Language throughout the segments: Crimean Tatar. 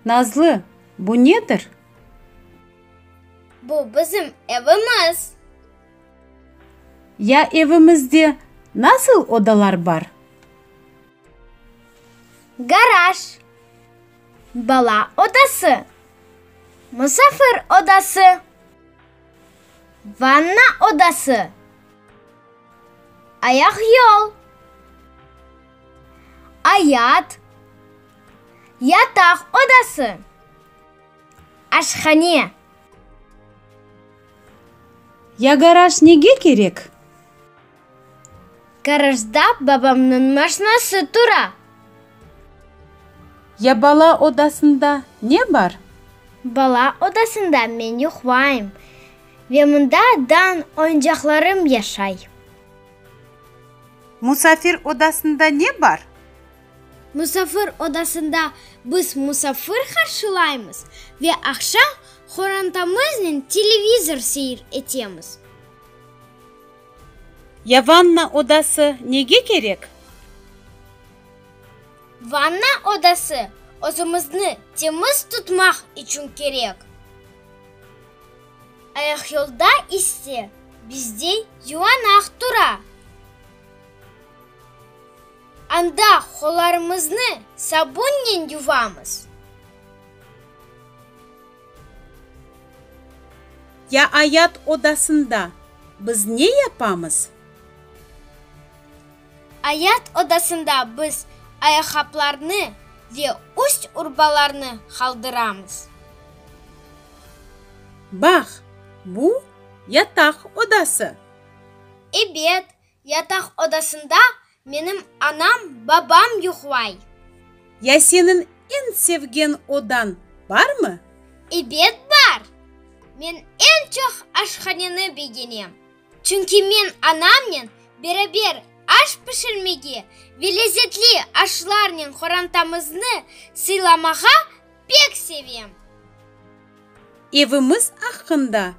Nazlı, bu nedir? Bu bizim evimiz. Ya evimizde nasıl odalar bar? Garaj, bala odası, musafir odası, vanna odası. Ayaq yol. Ayat, yataq odası. Aşhane. Ya garaj nege kerek? Garajda babamnıñ maşnası tura. Ya bala odasında ne bar? Bala odasında men yuqlayım. Ve mında dan oyuncaqlarım yaşay. Musafir odasında ne bar? Musafir odasında biz musafir qarşılaymız ve aqşam qorantamıznen televizor seyir etemiz. Ya vanna odası nege kerek? Vanna odası özümizni temiz tutmaq içün kerek. Ayaqyolda ise bizde yuvanaq tura. Anda qollarımıznı sabunnen yuvamız. Ya ayat odasında biz ne yapamız? Ayat odasında biz ayaqaplarnı ve üst-urbalarnı qaldıramız. Bax, bu, yataq odası. Ebet, yataq odasında menim anam, babam yuqlay. Ya seniñ eñ sevgen odañ barmı? Ebet, bar. Men eñ çoq aşhaneni begenem. Çünki men anamnen beraber aş pişirmege ve lezetli aşlarnen qorantamıznı sıylamağa pek sevem. Evimiz aqqında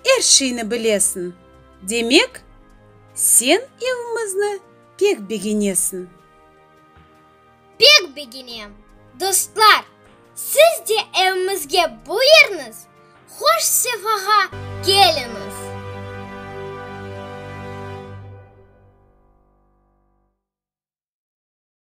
er şeyni bilesiñ, demek, sen evimizni pek begenesiñ. Pek beginem, dostlar! Siz de evimizge buyurnız, hoş-sefağa keliniz!